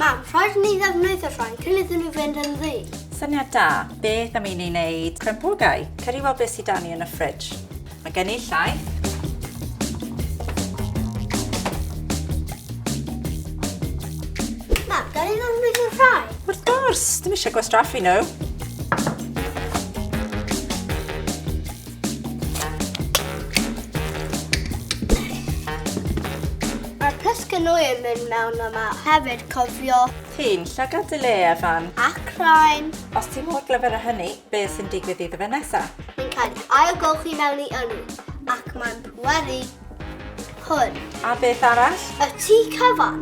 Mam, rhaid ni ddefnyddio rhain cyn iddyn nhw fynd yn ddi. Syniad da. Beth am i ni wneud crempogau? Cer i weld beth sydd da ni yn y ffridj. Mae gen i llaeth. Mam, gan i ddefnyddio rhai? Wrth gwrs, dim eisiau gwastraffu nhw. Mae pysgyn nwy yn mynd mewn yma. Hefyd cofio. Ti'n llygad dy le, Evan. Ac rhain. Os ti mor glyfr â hynny, be sy'n digwydd iddo fe nesa? Mae'n cael ei ailgylchu mewn i ynni, ac mae'n pweru hwn. A beth arall? Y tŷ cyfan.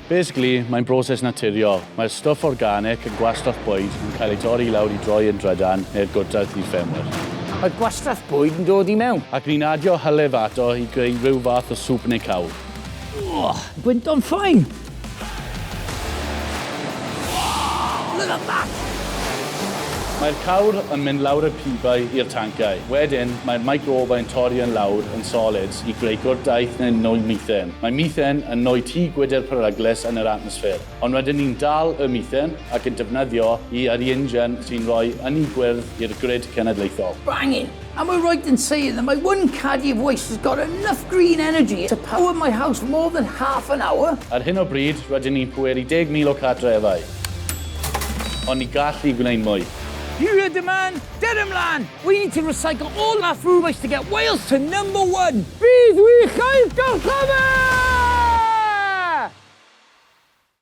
Basically, mae'n broses naturiol. Mae'r stwff organic yn gwastraff bwyd yn cael ei dorri i lawr i droi yn drydan neu'r gwrtaith i ffermwyr. Mae gwastraff bwyd yn dod i mewn. Ac ni'n adio hylif ato i greu rhyw fath o swp neu cawl. Ugh! Gwyntog ffein! Wow! Look at that! Mae'r cawr yn mynd lawr y pibau i'r tanciau. Wedyn, mae'r microbau'n torri yn lawr yn solid i greu gwrtaith neu'n nwy methane. Mae methane yn nwy tu gwydr peryglus yn yr atmosffer, ond rydyn ni'n dal y methane ac yn defnyddio i ar i injan sy'n rhoi ynni gwyrdd i'r grid cenedlaethol. Bangin! Am I right in saying that my one Cardiff Waste has got enough green energy to power my house more than half an hour? Ar hyn o bryd, rydyn ni'n pweru 10,000 o cartrefau, ond ni gall ni wneud mwy. Here a demand Ger ymlaen! We need to recycle all our food waste to get Wales to number one! Bydd wych oedd gorchymyn!